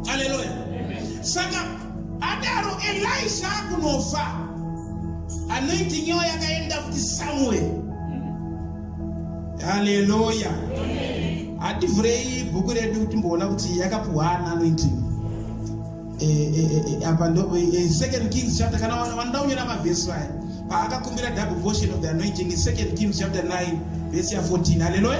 haleluya saka adaro elisha akunofa anointing yavo yakaenda futi samuel haleluya hativhurei bhuku redu kuti mboona kuti yakapuhwana anointing eh, eh, eh, apa ndo second kings chapter kana vanoda kunyora mavhesi vaya paakakumbira double portion of the anointing in second kings chapter 9 vhesi ya 14 haleluya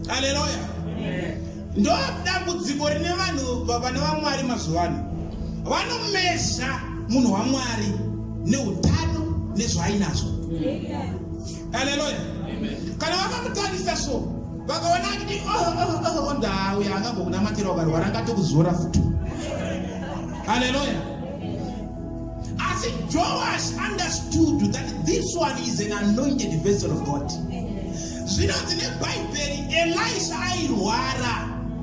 aleluya ndo dambudziko rine vanhu vana vamwari mazuva ano vanomeza munhu wamwari neutano nezvaainazvo aleluya kana vakamutarisa so vakaona kuti ndauya oh, oh, oh, angambokunamatira wakarwara angatokuzora futi aleluya asi joash understood that this one is an anointed vessel of god Amen. Zvinonzi neBhaibheri Elisha airwara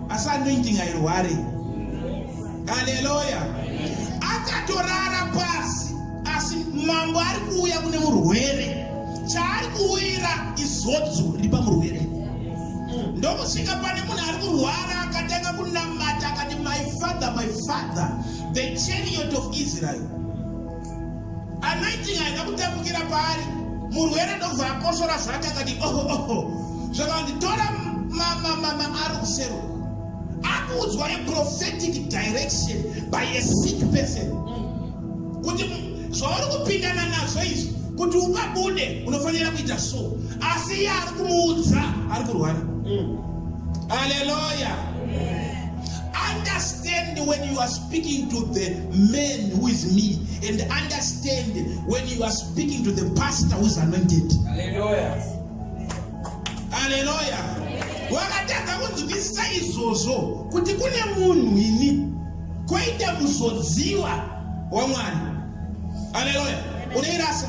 asi anointing airware. Haleluya. Akatorara pasi asi mambo ari kuuya kune murwere chaari kuwira izodzo riri pamurwere ndokusvika pane munhu ari kurwara akatanga kunamata akati my father my father the chariot of israel anoiting haina kutambukira paari murwere ndokubva akosora zvake akati oho oho zvakanditora mamamama ari kusero akuudzwa a prophetic direction by a sick person kuti zvauri kupindana nazvo izvi kuti ubabude unofanira kuita so asi iye ari kumuudza ari kurwara aleluya mm. understand when you are speaking to the man who is me and understand when you are speaking to the pastor who is anointed haleluya haleluya wakatadza kunzwisisa izvozvo kuti kune munhu ini koita muzodziwa wamwana haleluya unoirasa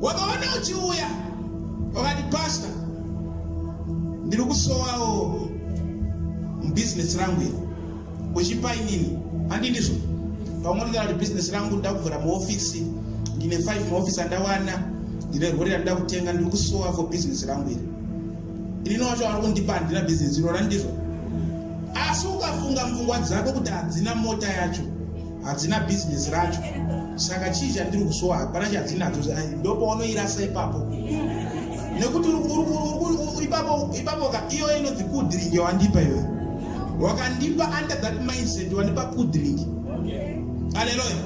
wakaona uchiuya wakati pasta ndiri kusowawo mubhizinesi rangu iri uchipa inini handi ndizvo pamwe ndikana kuti bhizinesi rangu ndakuvhura muofisi ndine five muofisi andawana ndine rori randida kutenga ndiri kusowa for bhizinesi rangu iri inini wacho wari kundipa handina bhizinesi irona ndizvo asi ukafunga mvungwa dzako kuti hadzina mota yacho hadzina bhizinesi racho saka chii chandiri kusowa hapana chadzinadzo ndopaunoirasa ipapo nekuti ipapoka iyoyo inonzi kudrink yawandipa iwe wakandipa under that mindset wandipa kudrink aleloya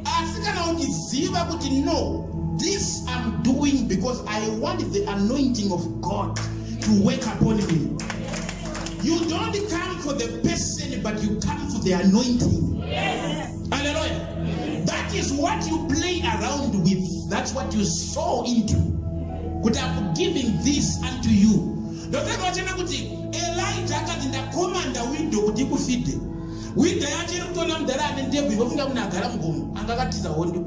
asi kana uchiziva kuti no this am doing because i want the anointing of god to work upon me You don't come for the person, but you come for the anointing. Yes. Hallelujah. That is what you play around with. That's what you sow into. Kuti I'm giving this unto you. Ndotaka wachena kuti Elijah akati ndakomanda widow kuti ikufide. Widow yacho iri kutoona mudhara ane ndebvu ivofunga kuti agara mugomo anga akatiza hondo.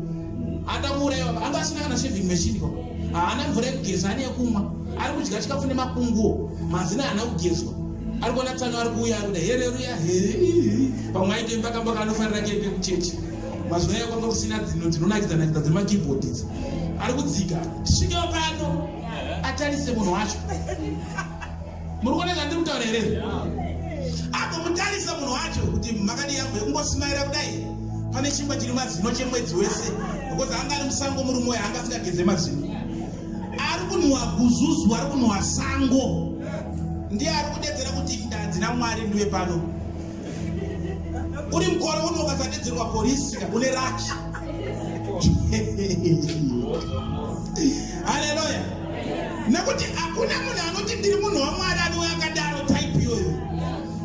Adamuuraiwa anga asina kana shaving machine ko. Haana mvura yekugeza ane yekumwa. ari kudya chikafu nemakunguwo mazina haana kugezwa ari kuona tsano ari kuuya ari kuda hereruya pamwe aite mbakamba kaanofanira keipe kuchechi mazuva aya kwanga kusina dzino dzinonakidzanakidza dzemakeyboard idzi ari kudzika tisvikewo pano atarise munhu wacho muri kuona zvandiri kutaura here agomutarisa munhu wacho kuti makadi yangu yekungosimaira kudai pane chimba chiri mazino chemwedzi wese because anga ari musango murume wayo anga asingageze mazino Ari kunhuwa guzuzu, ari kunhuwa sango. Ndiye ari kudedzera kuti ndanzi naMwari ndiwe pano. Uri mukore uno ukasadedzerwa polisi une raki. Haleluya. Nekuti hakuna munhu anoti ndiri munhu waMwari anouya akadaro type iyoyo.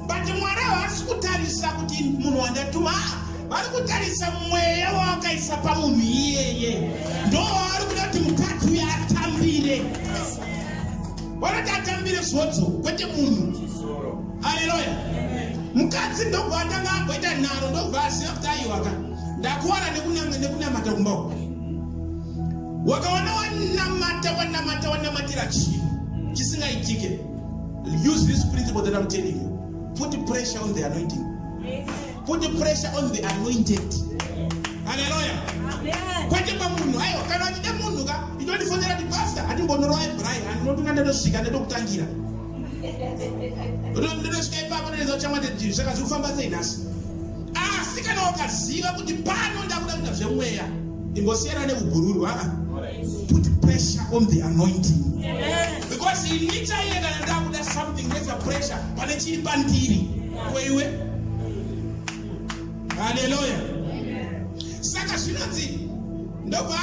But Mwari haasi kutarisa kuti munhu wandatuma. Ah, vari kutarisa mweya wawakaisa pamunhu iyeye ndo wavari kuda kuti mukadzi uyo atambire vanoti atambire svodzo kwete munhu aleloya mukadzi ndobva atanga amboita nharo ndobva aziva kuti aiwaka ndakuwana nekunamata kumba uku wakawana wanamata wanamata wanamatira chinhu chisingaitike use this principle that i'm telling you put pressure on the anointing Amen. Put the pressure on the anointed. Hallelujah. Kwete pamunhu aiwa kana achida munhu ka inondifonera kuti pastor hatimbonorova ebrai handinotunga ndotosvika ndotokutangira ndotosvika ipapo ndoedza kuchamwa ndedii saka zviri kufamba sei nhasi asi kana wakaziva kuti pano ndakuda kuita zvemweya ingosiyana nekugururwa haa put pressure on the anointing because ini chaiye kana ndakuda something neza pressure pane chiri pandiri kweiwe haleluya saka zvinonzi ndobva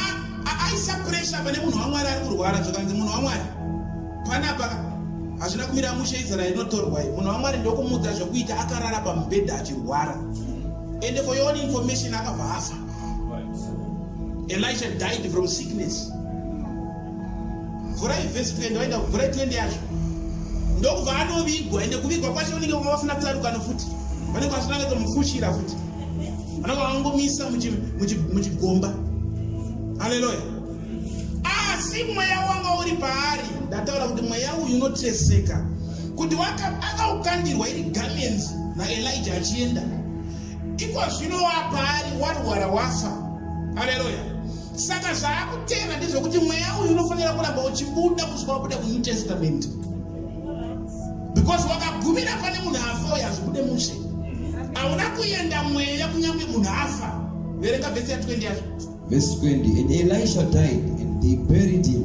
aisa puresha pane munhu wamwari ari kurwara zvakanzi munhu wamwari panapa hazvina kumira mushe izera inotorwa i munhu wamwari ndokumudza zvekuita akarara pamubhedha achirwara and for your own information akabva afa elisha died from sickness mvura yevhesi 20 waenda kumvura ye 20 yacho ndokubva anovigwa ende kuvigwa kwacho unenge vanga vasina tsarukano futi vanenge vasina katomufushira futi vanenge vangomisa muchigomba aleluya asi mweya wanga uri paari ndataura kuti mweya uyu unoteseka kuti akaukandirwa iri gamenzi naelija achienda ikozvino wapaari warwara wafa aleluya Saka zvaakutenda ndezvekuti mweya uyu unofanira kuramba uchibuda kusvika wabuda kunew testament because wakagumira pane munhu afa uyo hazvibude mushe hauna kuenda mweya kunyange munhu afa verenga vhesi ya 20 yazvo vhesi 20 and elisha died and they buried him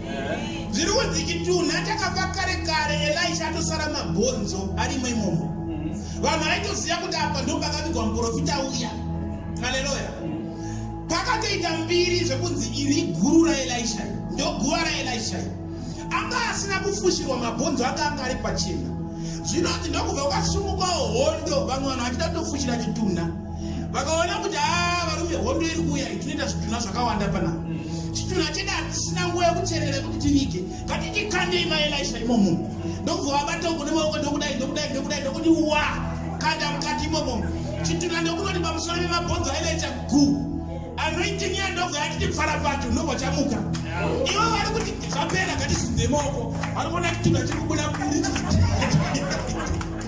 zviruko dzichitunha takafa kare kare elisha atosara mabhonzo arimo imomo vanhu aitoziva kuti apa ndo pakavigwa muprofita uya haleluya pakatoita mbiri zvekunzi iri guru raelisha ndo guva raelisha anga asina kufushirwa mabhonzo anga anga ari pachena zvinoti ndokubva kwasungukawo hondo vamwe vanhu vachida kutofushira chitunha vakaona kuti haa varume hondo iri kuuya itinoita zvitunha zvakawanda pana chitunha chedu hatisina nguva yekucherera kuti tivige ngatititandei maelisha imomo ndokubva vabata uko nemaoko ndokudai ndokudai ndokudai ndokuti wa kanda mukati imomo chitunha ndokunoti pamusoro vemabhonzo ailaita gu anoiting ya ndobva yatiti pfara pacho unobva chamuka ivo vari kuti zvapera ngatizunze maoko vari kuona chitunha chiri kubuda buri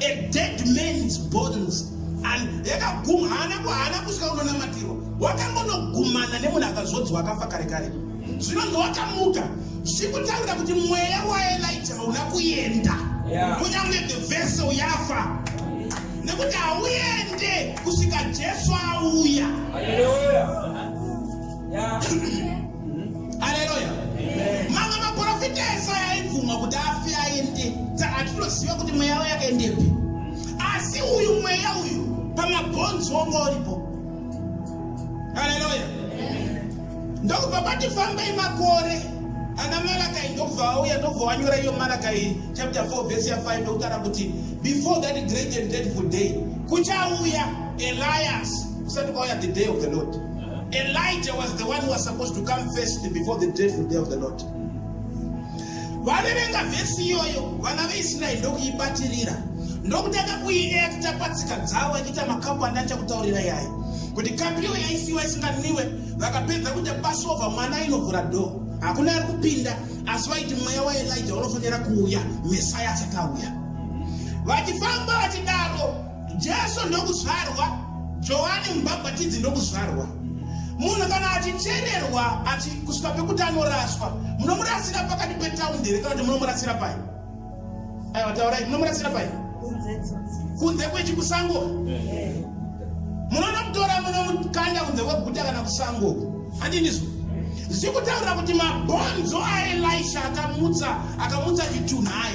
A dead man's bones and yakaguma haana kuhana kusvika unonamatirwa wakangonogumana nemunhu akazodzwa akafa kare kare zvinonzi wakamuka zvikutaura kuti mweya waelija hauna kuenda kunyange the vessel yafa nekuti hauende kusvika jesu auya aleluya mamwe maprofita ese aibvumwa kuti afi aende saka hatitoziva kuti mweya yavo yakaendepi asi uyu mweya uyu pamabhonzi wonga uripo aleluya ndokubva patifambei makore ana malakai ndokubva vauya ndokubva wanyora iyo malakai chapter 4 vhesi ya 5 ndokutara kuti before that great and dreadful day kuchauya elias kusati kwauya the day of the lord elijah was the one who was supposed to come first before the dreadful day of the lord vaverenga vhesi iyoyo vana veisraeri ndokuibatirira ndokutanga kuiekta patsika dzavo achiita makapu andacha kutaurira yayo kuti kapiyo yaisiwa isinganwiwe vakapedza kuita pasova mwana ainovhura dhoo hakuna ari kupinda asi vaiti mweya waelija unofanira kuuya mesaya asati auya vachifamba vachidaro Jesu ndokuzvarwa, Johani Mubhabhatidzi ndokuzvarwa. Munhu kana achichererwa achi kusvika pekuti anoraswa, munomurasira pakati petaundi here kana kuti munomurasira pai? Aiwa, taurai, munomurasira pai? Kunze kwechikusango. Munonomutora munomukanda kunze kweguta kana kusango. Handinizvo? Zvikutaura kuti mabhonzo aElisha akamutsa akamutsa chitunhai.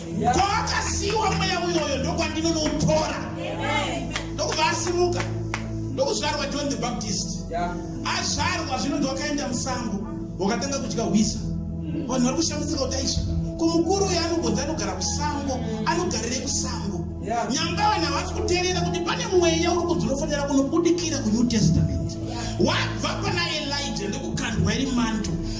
kwaakasiiwa mweya uyoyo ndokwandinonoutora ndokubva asimuka ndokuzvarwa john the baptist azvarwa zvino ndiwakaenda musango wakatanga kudya hwisa mm. vanhu vari kushambidzika kuti aisva kumukuru uyo anongonzi anogara kusango anogarire kusango nyanga vanhu havasi kuterera kuti pane mweya uri kunzi unofanira kunobudikira kunew testament wabva pana elija ndokukandwa iri manto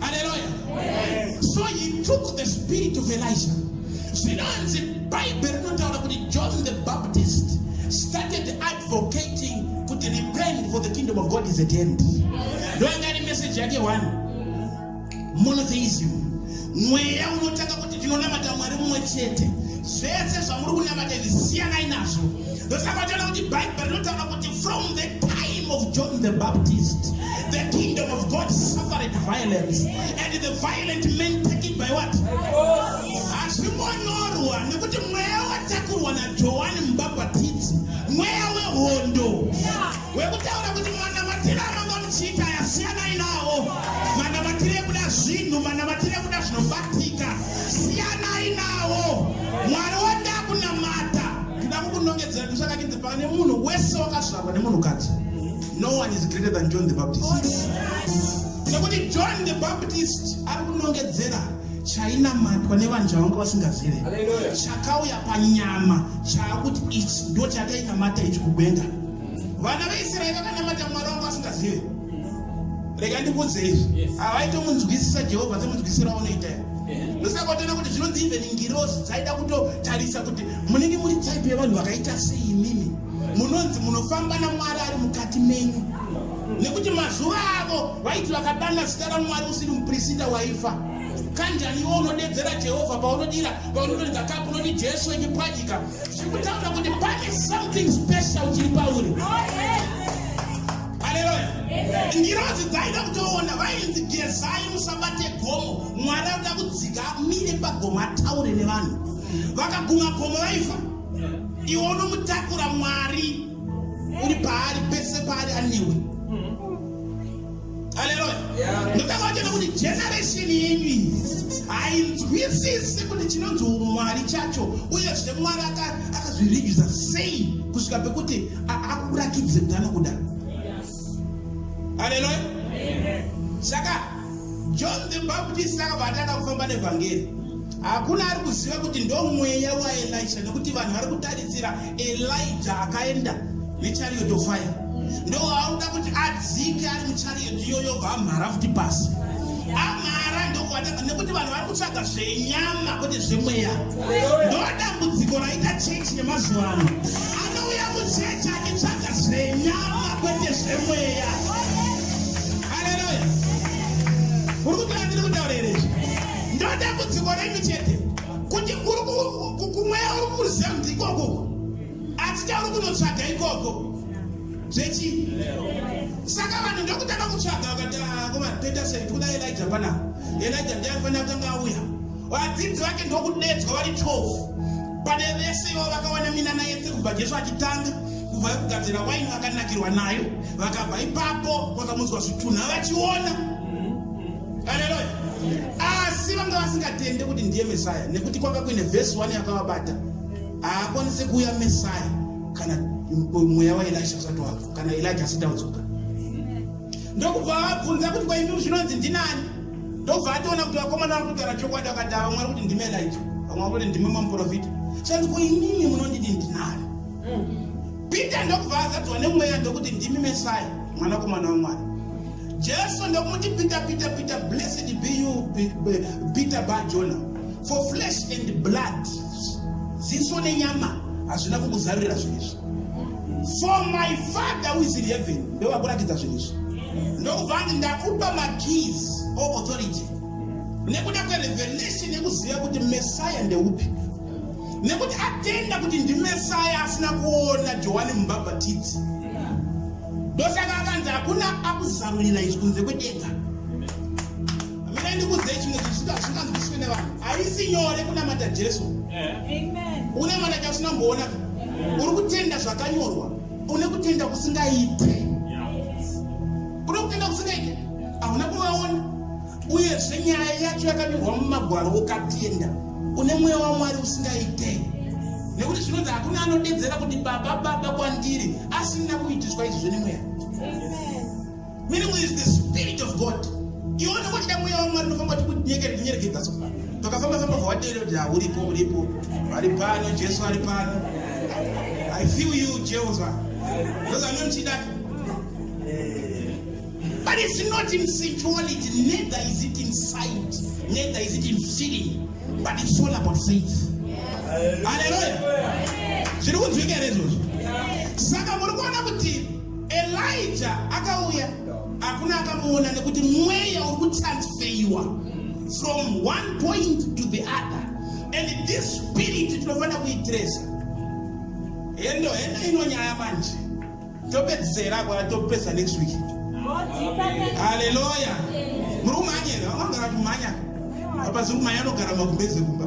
Hallelujah. Yes. So he took the spirit of Elijah. Zvinonzi Bible rinotaura kuti John the Baptist started advocating kuti repent for the kingdom of God is at hand. Ndoyanga ri message yake one. Monotheism. Mweya unotaka kuti tinonamata Mwari mumwe chete. Zvese zvamuri kunamata izvi siyanai nazvo. ndosaka tiona kuti bhaibheri rinotaura kuti from the time of john the baptist the kingdom of god suffered violence and the violent men take it by what hazvingonyorwa nekuti mweya watakurwa najohani mubhabhatidzi mweya wehondo wekutaura kuti mwana matiri amanga muchiita yasiyanai nawo mwana matiri ekuda zvinhu mwana matiri ekuda zvinobatika siyanai nawo mwari wanda kunamata ndida kukunongedzera kuti zvakakinzi pane munhu wese wakazvarwa nemunhukadzi no one is greater than john the baptist nekuti john the baptist ari kunongedzera chainamatwa nevanhu chavanga vasingazive chakauya panyama chaakuti ichi ndo chakainamata ichi kubenga vana veisraeri vakanamata mwari vanga vasingazive rega ndikuudze izvi havaitomunzwisisa jehovha semunzwisira unoita musakotona kuti zvinonzi even ngirozi dzaida kutotarisa kuti munenge muri type yevanhu vakaita sei imimi munonzi munofamba namwari ari mukati menyu nekuti mazuva avo vaiti vakadana zita ramwari usiri muprisita waifa kanjani iwo unodedzera jehovha paunodira paunotoridza kapu unoti jesu wekipwanyika zviri kutaura kuti pane something special chiri pauri oh, yeah. haleluya ngirozi dzaida kutoona vainzi gezai musabate gomo mwari akuda kudzika amire pagomo ataure nevanhu vakaguma gomo vaifa iwe unomutakura mwari uri paari pese paari anewe haleluya ndokavachena kuti generation yenyu iyi hainzwisisi kuti chinonzi umwari chacho uye zvemwari akazviridza sei kusvika pekuti akuratidze kuti anokuda haleluya saka john the baptist akabva atanga kufamba nevhangeri hakuna ari kuziva kuti ndomweya waelisha nekuti vanhu vari kutarisira elija akaenda nechariot of fire ndoauda kuti adzike ari muchariot iyoyo bva amhara futi pasi amhara ndokuatanga nekuti vanhu vari kutsvaga zvenyama kwete zvemweya ndodambudziko raita chechi yemazuva ano anouya muchechi achitsvaga zvenyama kwete zvemweya aleluya uri kuti andiri kutaura here izvi ndodambudziko renyu chete kuti kumweya uri kuziva kuti ikoko asi chauri kunotsvaga ikoko zvechii saka vanhu ndokutanga kutsvaga vakati ah, koma toita sei tikuda elija panapa elija ndiye anofanira kutanga auya Vadzidzi vake ndokudedzwa vari 12 pane vese ivo vakawana minana yese kubva Jesu achitanga kubva kugadzira waini vakanakirwa nayo vakabva ipapo kwakamudzwa zvitunha vachiona aleluya asi vanga vasingatende kuti ndiye mesaya nekuti kwanga kuine vhesi 1 yakavabata haakwanise kuuya mesaya kana mweya waelisha usati wabva kana elija asitaudzwa ndokuva vabvunza kuti kwaimiri zvinonzi ndinani ndobva atoona kuti vakomana vari kugara chokwadi akati ava mwari kuti ndime light vamwe vakuti ndime mamuprofita sandiko inini munondidi ndinani peter ndokubva azadzwa nemweya ndokuti ndimi mesai mwanakomana wamwari jesu ndokumuti peter peter peter blessed be you peter bajona for flesh and blood ziso nenyama hazvina kukuzarurira zvinezvi for my father who is in heaven ndovakuratidza zvinhu izvi ndokubva anzi ndakupa makeys o authority nekuda kwerevelation yekuziva kuti messiah ndeupi nekuti atenda kuti ndimesaya asina kuona johani mubhabhatidzi ndosaka akanzi hakuna akuzarurira izvi kunze kwedenga Mira ndikuudze chimwe chinhu chisinganzwisiswe nevanhu. Haisi nyore kunamata Jesu. Unamata chausina kumboona. Uri kutenda zvakanyorwa. Une kutenda kusingaite. Une kutenda kusingaite. Hauna kuvaona. Uyezve nyaya yacho yakanyorwa mumagwaro ukatenda. Une mweya waMwari usingaite. Nekuti zvinonzi hakuna anodedzera kuti baba baba kwandiri asina kuitiswa izvi zvenemweya. Amen. Meaning is the spirit of God. Iwe unenge uchida mweya waMwari unofamba tikunyekereka kunyerekedza so. Tokafamba famba for what area da uripo uripo. Ari pano Jesu ari pano. I feel you Jehovah. Because I'm not chida. But it's not in sensuality, neither is it in sight, neither is it in feeling, but it's all about faith. Hallelujah. Zviri kunzwika here izvozvo? Saka muri kuona kuti Elija akauya hakuna akamuona nekuti mweya uri kutransfeiwa from one point to the other and this spirit tinofanira kuitresa hendo hendo ino nyaya manje topedzisera kwa topedza next week haleluya muri kumhanya here anogara kumhanya apa ziri kumhanya anogara makumbeze kumba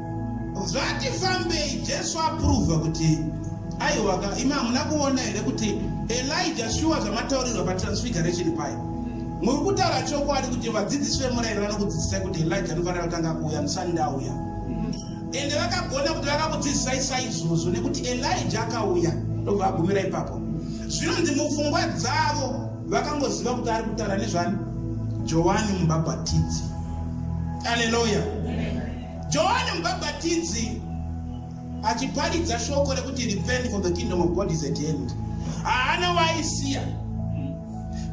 Zvati fambei Jesu apruva kuti aiwaka imi hamuna kuona here kuti Elijah shuwa zvamataurirwa patransfiguration paye muri kutaura chokwadi kuti vadzidzisi vemurayiro vanokudzidzisai kuti Elijah anofanira kutanga kuuya musani ndauya ende vakagona kuti vakakudzidzisai saizvozvo nekuti Elijah akauya ndobva agumira ipapo zvinonzi mupfungwa dzavo vakangoziva kuti ari kutaura nezvani Johani mubhabhatidzi Aleluya. Amen. Johani Mubhabhatidzi achiparidza shoko rekuti repent for the kingdom of God is at hand, haana waaisiya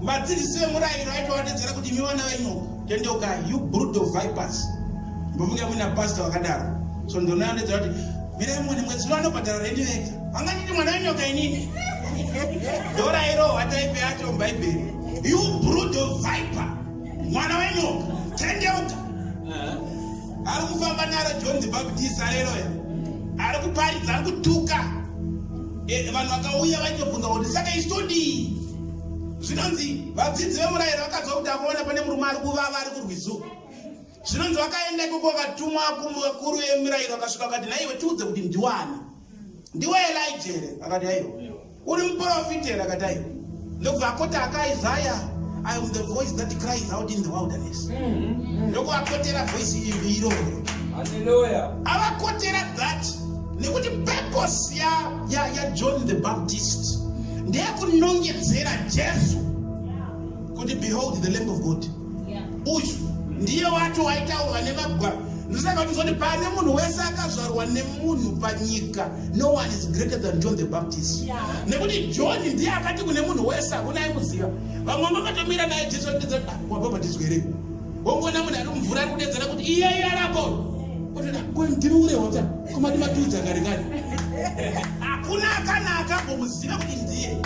vadzidzisi vemurayiro aitovatedzera kuti imi vana venyoka tendeuka you brood of vipers mbofunge muina pasta vakadaro so ndonoanedza kuti mirai mone mwedzi uno anobhadhara rendi vega vanganditi mwana wenyoka inini ndorayiro hwataipe yacho mubhaibheri you brood of viper mwana wenyoka tendeuka ari kufamba naro john the baptist areroya ari kuparidza ari kutuka eh, vanhu vakauya vaitobvunza kuti saka isitodii zvinonzi vadzidzi vemurayiro vakadzwa kuti akuona pane murume ari kuvava ari kurwizu zvinonzi vakaenda ikoko vakatumwa kuvakuru vemurayiro vakasvika vakati naiwe tiudze kuti ndiwani ndiwe elija here akati aiwa uri muprofita here akati aiwa ndokubva akoti akaizaya i am the voice that cries out in the wilderness mm-hmm. ndokuvakotera voice iri iroro avakotera that nekuti purpose yajohn the baptist ndeyekunongedzera jesu kuti behold the lamb of god uyu ndiye wacho waitaurwa nemagwaro ndosaka kutizoti pane munhu wese akazvarwa nemunhu panyika no one is greater than john the baptist nekuti john ndiye akati kune munhu wese hakuna aimuziva vamwe vakatomira naye jesu vakuedza ah, wabhabhatidzwa here wongoona munhu ari mumvura ari kudedzera kuti iyeyo arapo otoda ko ndiri urehota komati matiudza kare kare hakuna kana akambomuziva kuti ndiye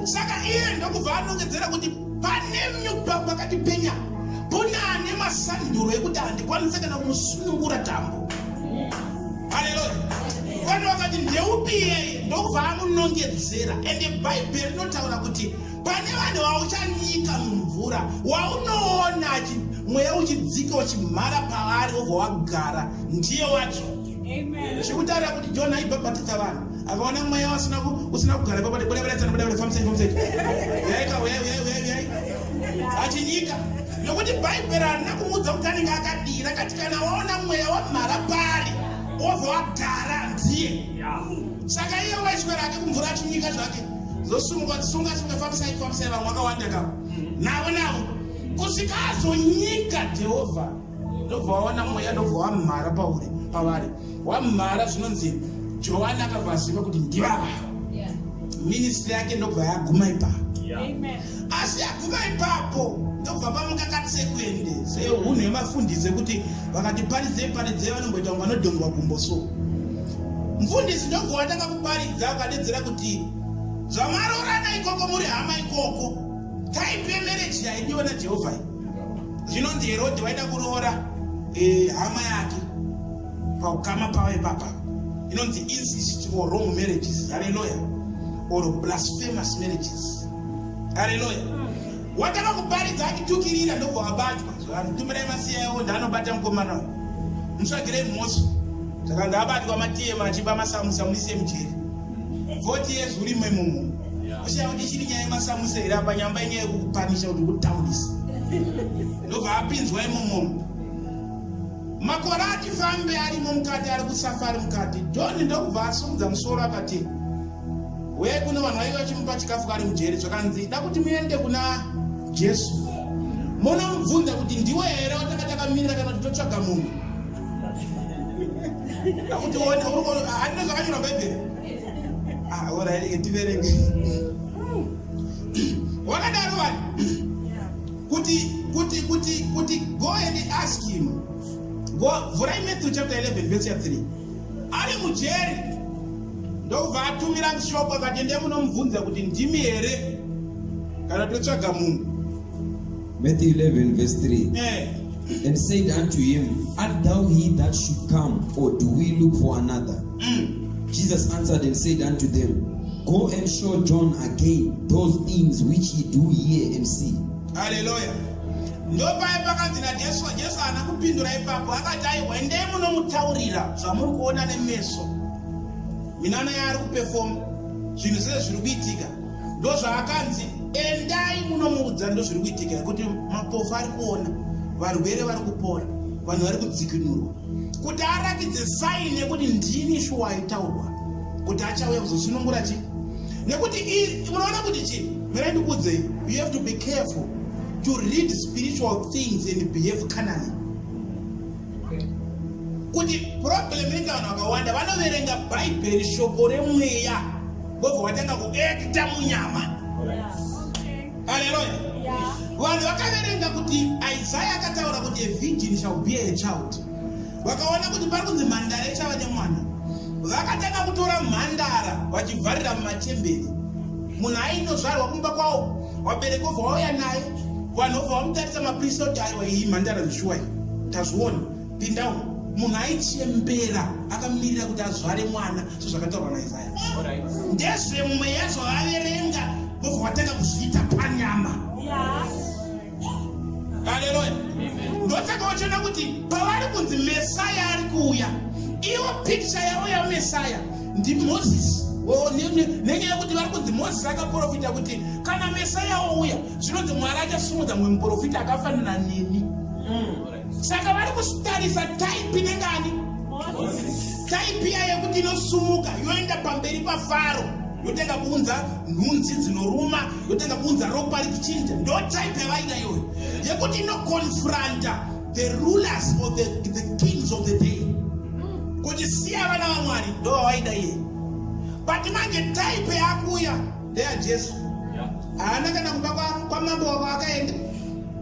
saka iye ndokubva anongedzera kuti Panemnyu baba akatipenya kuna ane masanduro ekuti handikwanise kana kumusunungura tambo. Haleluya. Vanhu vakati ndeupi iyeye ndokubva amunongedzera ende bhaibheri rinotaura kuti pane vanhu vauchanyika mumvura waunoona mweya uchidzika uchimhara pavari wobva wagara ndiye wacho zvikutarira kuti john aibhabhatidza vanhu akaona mweya wasina usina kugara ipapo ti buda budaidzana buda buda famsai famsai uyai ka uyai uyai uyai uyai achinyika nokuti bhaibheri harina kumuudza kuti anenge akadira kati kana waona mweya wamhara pari wobva wagara ndiye saka iye waiswera ake kumvura achinyika zvake zosumuka dzisunga sunga famsai famsai vamwe wakawanda kavo navo navo kusvika azonyika jehovha ndobva waona mweya ndobva wamhara pauri pavari wamhara zvinonzi johani akabva aziva kuti ndivava ministri yake ndobva yaguma ipapo asi yaguma ipapo ndobva pamuka katsekuende seunhu yemafundisi ekuti vakati paridzei paridzei vanomboita kunge vanodhongwa gumbo so mfundisi ndobva watanga kuparidza ukadedzera kuti zvamaroorana ikoko muri hama ikoko taipe mereji yaidiwa najehovha Zvinonzi Herodhi waida kuroora eh, hama yake paukama pavo ipapa. Inonzi incest or wrong marriages. Haleluya. Or blasphemous marriages. Haleluya. Wataka kuparidza akitukirira ndobva wabatwa. Zvanhu tumirai masiya yawo ndaanobata mukomana uyu. Mutsvagirei mhoso. Saka ndaabatwa matiyema achiba masamusa muise mujeri. 40 years uri memumu uchiya kuti chiri nyaya yemasamusa here apa nyamba inyaya yekupanisha kuti kutaunisa ndobva apinzwa imomomo makore ati fambe arimo mukati ari kusafari mukati doni ndokubva asumudza musoro akati uye kuno vanhu vaive vachimupa chikafu kari mujeri zvakanzi da kuti muende kuna jesu munomubvunza kuti ndiwe here watakatakamira kana kuti totsvaga munhu akutione handina zvakanyora bhaibheri ah, oraireke tiverenge wakadaro vanhu kuti kuti kuti kuti go and ask him go vhurai matthew chapter 11 verse 3 ari mujeri ndokubva atumira mshoko akati ndiye munomubvunza kuti ndimi here kana totsvaga munhu Matthew 11 verse 3 eh. And said unto him, Art thou he that should come, or do we look for another? Mm. Jesus answered and said unto them, Go and show John again those things which ye do hear and see. Hallelujah. ndopaye pakanzi najesu jesu haana kupindura ipapo akati aiwa endei munomutaurira zvamuri kuona nemeso minana yaari kupefoma zvinhu zviye zviri kuitika ndozvaakanzi endai munomuudza ndozviri kuitika kuti mapofu ari kuona varwere vari kupora vanhu vari kudzikinurwa kuti arakidze saini yekuti ndini shuwa aitaurwa kuti achauya kuzosunungura chii nekuti unoona kuti chii mira ndikuudzei you have to be careful to read spiritual things and behave canally kuti problem inoita vanhu vakawanda vanoverenga bhaibheri shoko remweya vobva vatanga kuekita munyama aleluya vanhu vakaverenga kuti isaya akataura kuti a virgin shall be a child vakaona kuti pari kunzi mhandara ichava nemwana vakatanga kutora mhandara vachivharira mumachemberi munhu ainozvarwa kumba kwawo wabereki obva wauya naye vanhu obva vamutarisa mapurisa kuti aiwa iyi mhandara zvishuwa iyi tazviona pindawo munhu aichembera akamirira kuti azvare mwana sezvakataurwa naisaya ndezvemweya zvavaverenga vobva vatanga kuzviita panyama haleluya ndosaka vachiona kuti pavari kunzi mesaya ari kuuya iwo pikicha yavo yamesaya ndimozisi nenyaya yekuti vari kunzi mozisi akaprofita kuti kana mesaya ouya zvinonzi mwari achasimudza mumwe muprofita akafanana neni mm. saka vari kusitarisa taipi nengani taipi iya yekuti inosumuka yoenda pamberi pafaro yotanga kuunza nhunzi dzinoruma yotanga kuunza ropa richichinja ndo taipi yavaida iyoyo yekuti inokonfranta the rulers or the, the kings of the day kuti siya vana vamwari ndo vawaida iye but manje type yakuuya ndeya jesu haana kana kumba kwamambo kwa wavo akaenda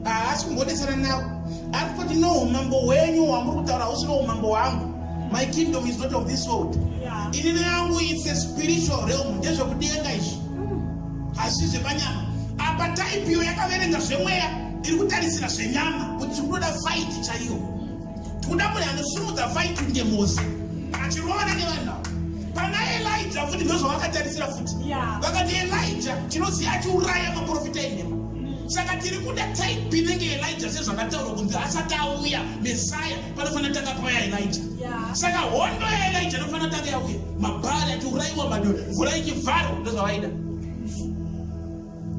haasi kumbodesana navo ari kuti no umambo hwenyu hwamuri kutaura hausi no umambo hwangu my kingdom is not of this world ini neyangu its a spiritual realm ndezvekudenga izvi hazisi zvepanyama apa type iyo yakaverenga zvemweya ndiri kutarisira zvenyama kuti tiri kutoda faiti chaiyo tikuda munhu anosimudza faiti kunge mosi achirovana nevanhu avo pana elija futi ndozvavakatarisira futi vakati elija tinoziva achiuraya maprofita enhema saka tiri kuda type inenge elija sezvakataurwa kunzi asati auya mesaya panofanira tanga paya elija saka hondo yaelija inofanira tanga yauya mabhari atiuraiwa mado mvura ichivharwa ndozvavaida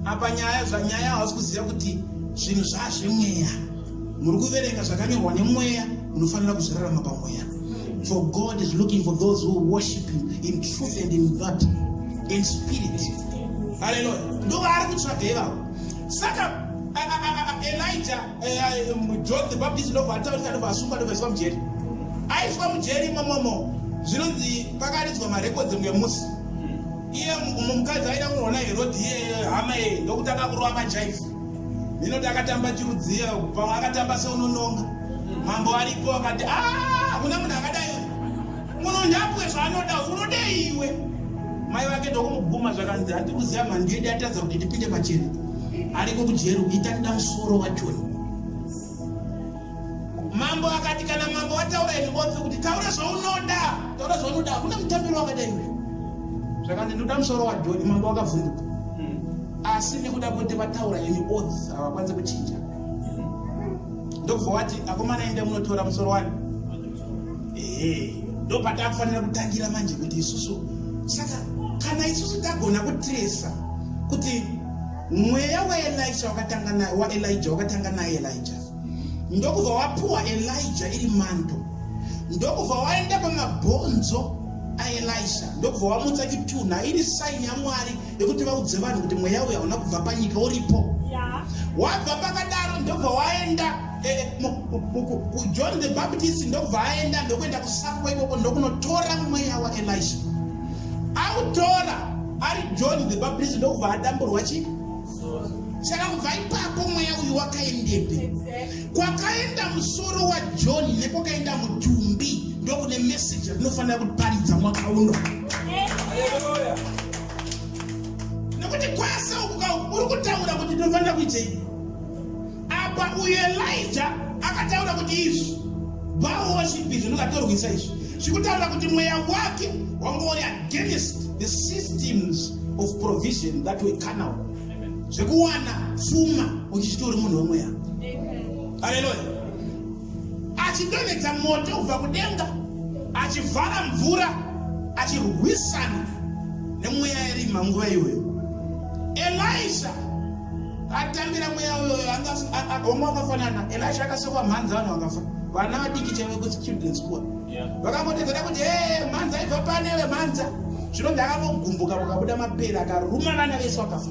apa nyaya zvanyaya hausi kuziva kuti zvinhu zvazvemweya muri kuverenga zvakanyorwa nemweya munofanira kuzvirarama pamweya for god is looking for those who worship him in truth and in god in spirit haleluya ndovaari kutsvaga ivavo saka elija eh, eh, john the baptist ndobva ataurika ndobva asungwa ndobva iswa mujeri aiswa mujeri imomomo zvinonzi pakaridzwa marekodzi mwemusi iye mumwe mukadzi aida kunoona herodhi iye hama yeye ndokutanga kurova majaifu inoti akatamba chirudziya pamwe akatamba seunononga mambo aripo akati hakuna ah, munhu akadai munonyapwe zvaanoda unodei iwe mai vake ndokumuguma zvakanzi handi kuziva mhandiyedi atadza kuti tipinde pachena ariko kujeri kuita nda musoro wachoni Mambo akati kana mambo wataura ini botse kuti taura zvaunoda taura zvaunoda hakuna mutambiro wakadai uyu zvakanzi ndoda musoro wadhoni mambo wakavhunduka hmm. asi nekuda kuti vataura ini ots havakwanise kuchinja ndobva wati akomana ende munotora musoro wani ehe ndopatakufanira kutangira manje kuti isusu saka kana isusu tagona kutresa kuti Mweya waElisha wakatanga naye waElijah wakatanga naye Elijah. Ndokubva wapuwa Elijah iri manto. Ndokubva waenda pamabhonzo aElisha. Ndokubva wamutsa chitunha iri sign yaMwari yekuti vaudze vanhu kuti mweya uyu hauna kubva panyika uripo. Yeah. Wabva pakadaro ndokubva waenda Eh, eh, john the baptist ndobva aenda ndokuenda kusakwa ikoko ndokunotora mweya waelisha autora ari john the baptist ndokubva adamburwa chi saka kubva ipapo mweya uyu wakaendepi kwakaenda musoro wajohn nekwakaenda mutumbi ndokune meseji yatinofanira kuparidza mwaka uno nekuti kwasa ukuka uri kutaura kuti tinofanira kuitei Apa uyu Elija akataura kuti izvi Baal worship izvi ndikatorwisa izvi zvikutaura kuti mweya wake wanga uri against the systems of provision that were carnal zvekuwana pfuma uchichiti uri munhu wemweya haleluya achidonhedza moto kubva kudenga achivhara mvura achirwisana nemweya yerima nguva iyoyo elisha atambira mweya uyoyo omwe akafanana and acho akasekwa mhanzi vanhu vakafa vana vadiki chaive kuti children school vakangotedzera kuti e mhanzi aibva pane vemhanza zvino ndakangogumbuka mukabuda mapere akaruma vana vese vakafa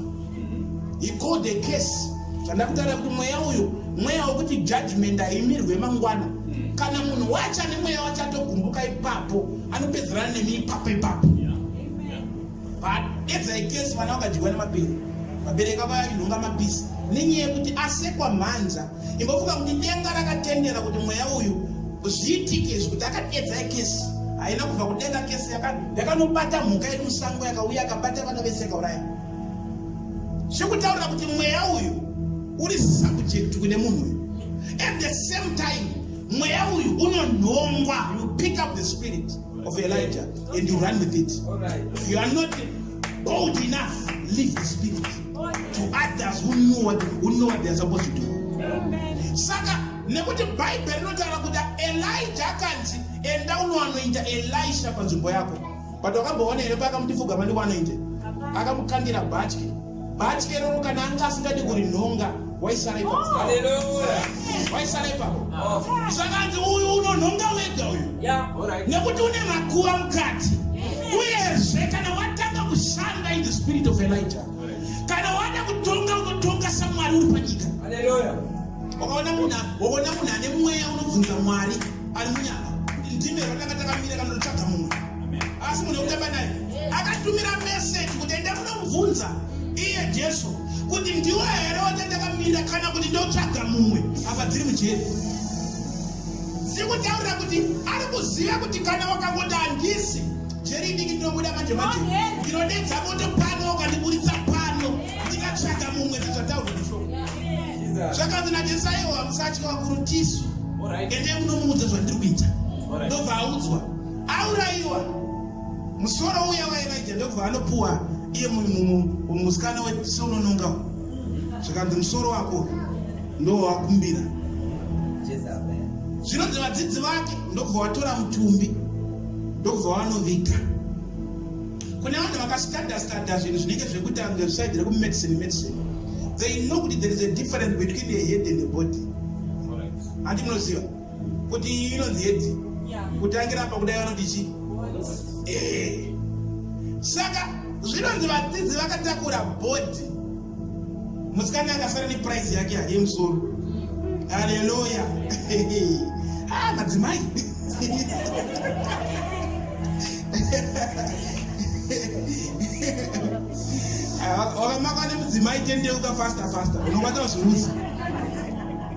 he called the case zvandakutaura kuti mweya uyo mweya wekuti judgment haimirwe mangwana mm. kana munhu wacho ane mweya wacho atogumbuka ipapo anopedzerana nemi ipapo ipapo Paedza ikesi vana vakadyiwa nemapere vabereki vavo vainhonga mapisi nenyaya yekuti asekwa mhanza imbofunga kuti denga rakatendera kuti mweya uyu zviitike izvi kuti akadedza ikesi haina kubva kudenga kesi yakanobata mhuka iri musango yakauya akabata vana vese kauraya zvekutaurira kuti mweya uyu uri subject kune munhu uyu at the same time mweya uyu unonhongwa you pick up the spirit of Elijah and you run with it. If you are not bold enough, leave the spirit to others who know what, who know what they are supposed to do. Saka nekuti Bible rinotaura kuti Elijah akanzi enda unoanoinda Elisha panzvimbo yako. But wakamboona here paakamuti fugama ndiko anoinda? Akamukandira bhatyi. Batyeroro kana anga asingadi kuri nhonga waisara ipapo. Oh. Haleluya. Waisara ipapo. Oh. Zvakanzi uyu unonhonga wega uyu. Yeah. All right. Nekuti une makuva mukati. Uyezve kana watanga kushanda in the spirit of Elijah. Kana wada kutonga unotonga saMwari uri panyika. Haleluya. Wakaona munhu, wakaona munhu ane mweya unobvunza Mwari ari munyama. Ndime rakanga takamira kana kutsvaga mumwe. asi munhu wekutamba naye akatumira meseji kuti enda kunomubvunza iye jesu kuti ndiwo here watandakamira kana kuti ndotsvaga mumwe apa dziri mujeri zikutaurira kuti ari kuziva kuti kana wakangoti handisi jeri idiki ndinobuda manje manje ndinodedza moto pano ukandiburitsa pano ndikatsvaga mumwe zizvataurwa zvisho zvakanzi najesu aiwa musatya wakuru tisu ende munomuudza zvandiri kuita ndobva audzwa auraiwa musoro uya wairaija ndokubva anopuwa iye musikana wesonononga zvikanzi musoro wako ndowakumbira zvinonzi vadzidzi vake ndokubva watora mutumbi ndokubva wanoviga kune vanhu vakastadastada zvinhu zvinenge zvekuti ange zvisaidi rekumedicine medicine they know kuti there is a difference between a head and a body handi munoziva kuti iyi inonzi hedhi kutangira apa kudai vanoti chii eh. saka zvinonzi vadzidzi vakatakura bhodhi musikana akasara neprice yake hari yemusoro haleluya ah, madzimai wakamakwa nemudzimai tendeuka faster faster unokwanisa kuzviudza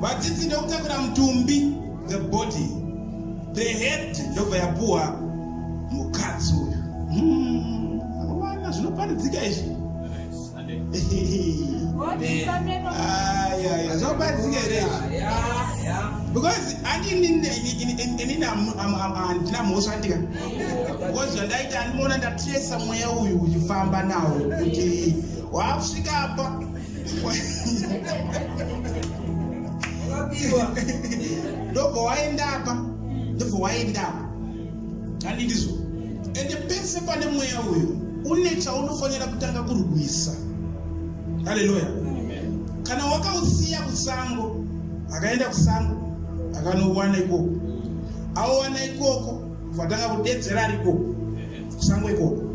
Vadzidzi ndokutakura mutumbi, the body. The head ndobva yapuwa mukadzi uyu. Hmm, vana zvinoparidzika izvi. Zvoparidzika here izvi? Because andini inini handina mhosva ndika. Because zvandaita andimoona ndatresa mweya uyu uchifamba nawo kuti wakusvika apa. ndobva waenda apa ndobva waenda apa handi ndizvo ende pese pane mweya uyu une chaunofanira kutanga kurwisa haleluya kana wakausiya kusango akaenda kusango akanowana ikoko aowana ikoko vatanga kudedzera ari ikoko Sangweko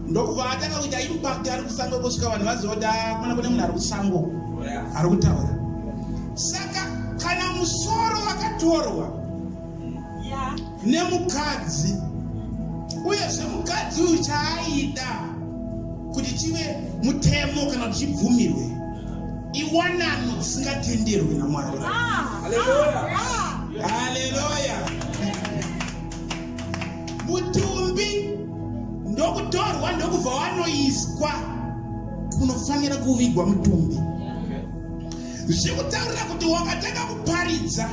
ndokubva atanga kuita impact ari kusango kusvika vanhu vazoda mana kune munhu ari kusango ari kutaura saka kana musoro wakatorwa nemukadzi uyezve mukadzi uyu chaaida kuti chive mutemo kana kuti chibvumirwe iwanano dzisingatenderwi namwari haleluya ah, ah. mutumbi ndokutorwa ndokubva wanoiswa unofanira kuvigwa mutumbi zvikutaurira kuti wakatanga kuparidza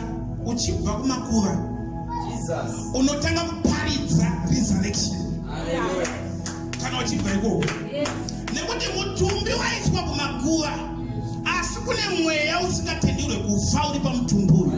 uchibva kumakuva unotanga kuparidza resurrection kana uchibva ikoko nekuti mutumbi waiswa kumakuva asi kune mweya usingatenderwe kufa uri pamutumbi uyu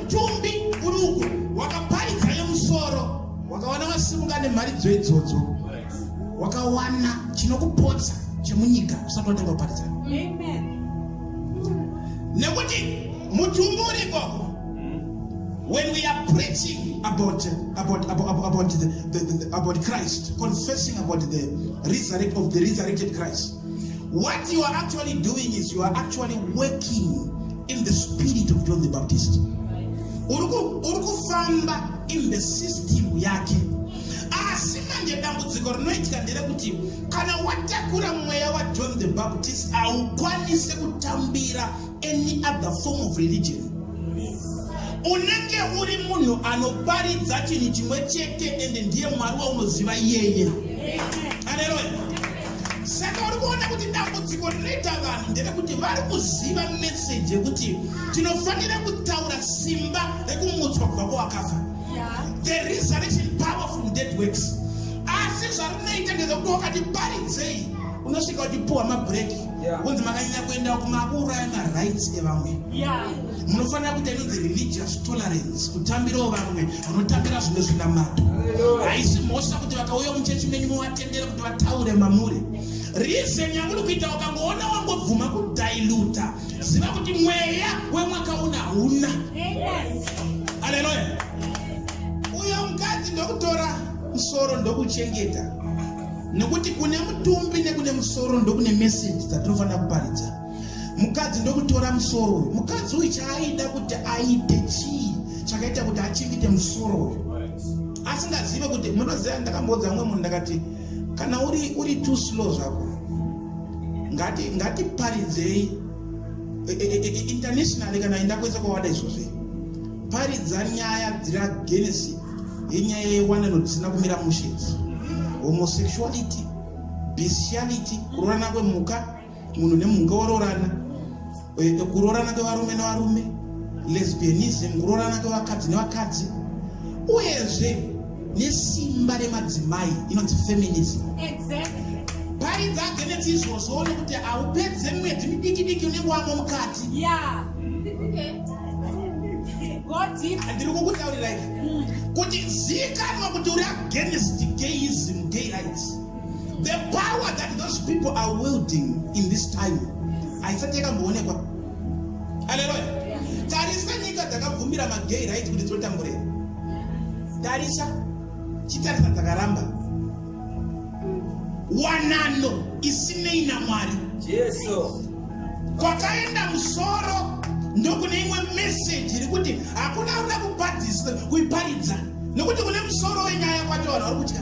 Tumbi uri uko wakaparidza yemusoro wakawana wasimuka nemharidzo idzodzo wakawana chinokupotsa chemunyika usati watanga kuparidza nekuti mutumbi uri ikoko when we are preaching about about about, about the, the, the, about Christ, confessing about the resurrect of the resurrected Christ. What you are actually doing is you are actually working in the spirit of John the Baptist. Uri kufamba in the system yake. Asi manje dambudziko rinoitika nderekuti kana watakura mweya waJohn the Baptist haukwanise kutambira any other form of religion. Unenge uri munhu anoparidza chinhu chimwe chete ende ndiye Mwari waunoziva iyeye. Haleluya. saka uri kuona kuti dambudziko rinoita vanhu nderekuti vari kuziva meseji yekuti tinofanira kutaura simba rekumutswa kubva kwawakafa the resurrection power from dead works asi zvarinoita ndezvekuti wakati paridzei unosvika uchipuhwa mabreak kunzi makanyanya kuenda kumauraya marights evamwe munofanira kuita inonzi religious tolerance kutambirawo vamwe vanotambira zvimwe zvinamato haisi mhosva kuti vakauya muchechi menyu muvatendere vataure mamuri reason yamuri kuita ukangoona wangobvuma kudiluta ziva kuti mweya wemwaka una hauna aleluya uyo mukadzi ndokutora musoro ndokuchengeta nekuti kune mutumbi nekune musoro ndokune meseji dzatinofanira kuparidza mukadzi ndokutora musoro uyu mukadzi uyu chaaida kuti aite chii chakaita kuti achingite musoro uyu asingazive kuti munoziva ndakamboudza mumwe munhu ndakati kana uri uri too slow zvako ngati ngatiparidzei e, e, e, internationally kana enda kwese kwawada izvozve paridza nyaya dzira genesi yenyaya yewanano dzisina kumira mushe homosexuality bestiality kurorana kwemhuka munhu nemhuka oroorana eh, kuroorana kwevarume nevarume lesbianism kuroorana kwevakadzi nevakadzi uyezve nesimba remadzimai inonzi feminism paridza agenetsi izvozvo one kuti haupedze mwedzi midiki diki unenge wamo mukati ndiri kukutaurirai kuti zikanwa kuti uri against gayism gay rights The power that those people are wielding in this time haisati yakamboonekwa. Haleluya. Tarisa nyika dzakabvumira magay right kuti dzotamburira. Tarisa chitarisa dzakaramba wanano isinei naMwari. Jesu. Kwakaenda musoro ndokune imwe message iri kuti hakuna uda kupadzisa kuiparidza nokuti kune musoro wenyaya kwacho vanhu vari kutya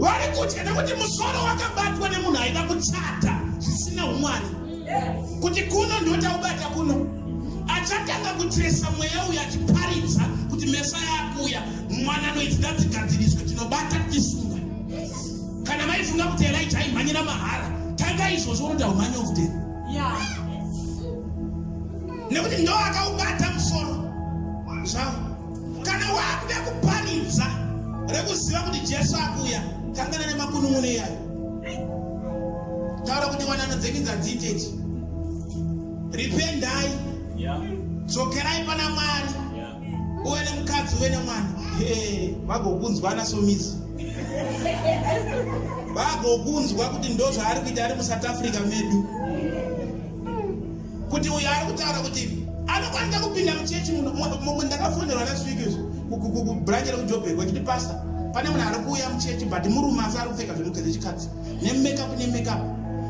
vari kutya nekuti musoro wakabatwa nemunhu aida kuchata zvisina umwani kuti kuno ndotaubata kuno achatanga kutresa mweya uyo achiparidza kuti mesa yakuuya mwana anoiti ngadzigadziriswe tinobata tisunga kana maifunga kuti elija aimhanyira mahara tanga izvozvo unoda umhanya okuteni nekuti ndo akaubata musoro zvavo Kana wakuda kuparidza rekuziva kuti Jesu akuuya, kangana nemakunun'uno iyayo. Taura kuti wanano dzenyu dzadzite ichi. Rependai. Yeah. Dzokerai pana Mwari. Yeah. Uwe nemukadzi uwe nemwana. Hey, vagokunzwana somizi. vagokunzwa kuti ndozvaari kuita ari musouth africa medu kuti uyu ari kutaura kuti anokwanisa kupinda muchechi muno ndakafonerwa last week izvo kubranche rekujobhek vachiti pasta pane munhu ari kuuya muchechi but murume asi ari kupfeka zvinhu dzechikadzi nemakeup nemakeup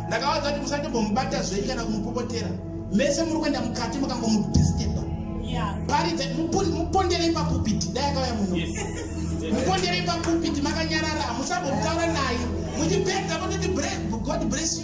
ndakavaudza kuti musatombomubata zvenyu kana kumupopotera mese muri kuenda mukati mukangomudisteba paridza muponderei papupiti dai akauya muno muponderei papupiti makanyarara hamusambomutaura naye muchipedza mototi god bless you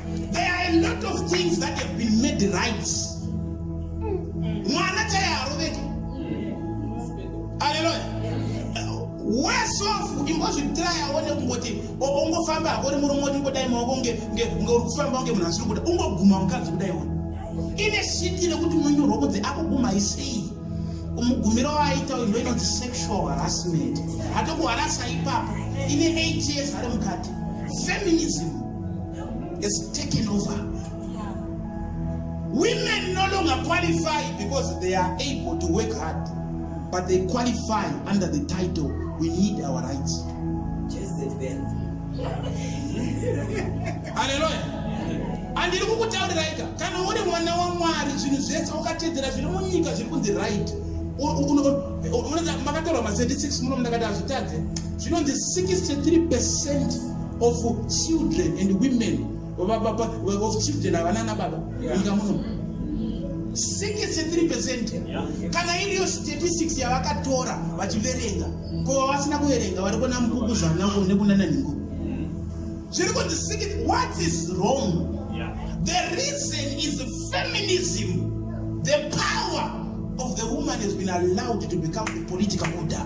There are a lot of things that have been made right. Mwana chai haroveki. Hallelujah. Worse off imbozvitry aone kungoti ongofamba hako uri murume woti ngodai maoko nge nge uri kufamba kunge munhu asiri kuda ungoguma mukadzi kudai wona. Ine shiti rekuti munyorwa kunzi akuguma isei. Umugumiro waaita uyu ndoinonzi sexual harassment. Hatokuharasa ipapo. Ine 8 years ari mukati. Feminism. is taken over. Women no longer qualify because they are able to work hard, but they qualify under the title, we need our rights. Jezebel. Hallelujah. andiri kukutauriraika kana uri mwana wamwari zvinhu zvese wakatedzera zviri munyika zviri kunzi right makatorwa ma 36 muno mndakati hazvitadze zvinonzi 63 percent of children and women of children havana nababa nyika muno 63 percent kana iriyo statistics yavakatora vachiverenga ko vavasina kuverenga vari kuona mukuku zvanako nekunana ningo zviri kunzi siki what is wrong the reason is feminism the power of the woman has been allowed to become the political order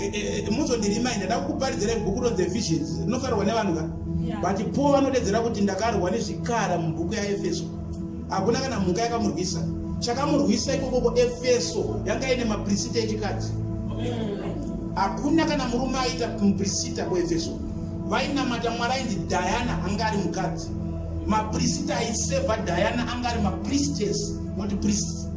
Eh, eh, eh, muzondirimai ndada kukuparidzira ibhuku ro the visions rinofarirwa nevanhu ka but po vanodedzera kuti ndakarwa nezvikara mubhuku yaefeso hakuna kana mhuka yakamurwisa chakamurwisa ikokoko efeso yanga ine maprisita echikadzi hakuna kana murume aita muprisita kuefeso vainamata mwari ainzi diana anga ari mukadzi maprisita aiseva diana anga ari mapriestess not priest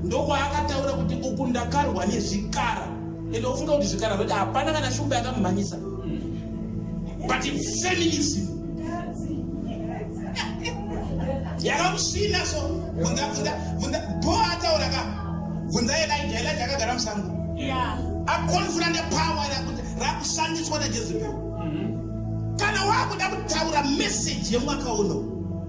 ndokwaakataura kuti uku ndakarwa nezvikara ende ufunga kuti zvikara zvati hapana kana shumba yakamumhanyisa but feminism yakamusvina so bhoa ataura ka bvunza elija elija akagara musango akonfura nepawa rakuti rakushandiswa najezebel mm-hmm. kana wakuda kutaura meseji yemwaka uno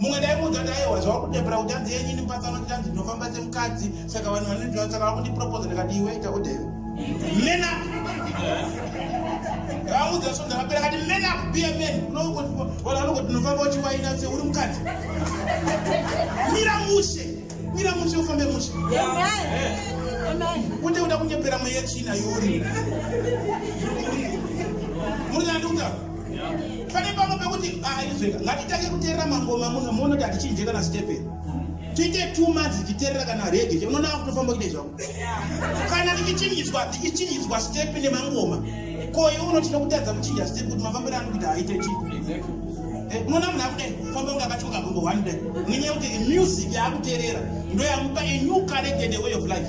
mumwe ndaimuudza kuti aiwa zvava kudebura kuti anzi yenyu ini mpasano kuti anzi ndinofamba semukadzi saka vanhu vanondiona saka vava kundiproposa ndikati iwe ita kudeve mena ndavamuudza so ndakapera kati mena kubiya men unoonaunoku ndinofamba uchiwaina se uri mukadzi mira mushe mira mushe ufambe mushe kuti uda kunyepera mweya china yuri muri nandikuta pane pamwe pekuti aizveka ah, ngatitange kuterera mangoma muno muona kuti hatichinje kana stephen tiite two months tichiterera kana rege che unoona vakutofamba kuita izvako kana ndichichinjiswa ndichichinjiswa step nemangoma ko iwe unoti nokutadza kuchinja step kuti mafambiro ano kuita aite chi eh, unoona munhu akuda famba kunga akatyoka gombo one day nenyaya yekuti music yaakuterera ndoyamupa a new current and a way of life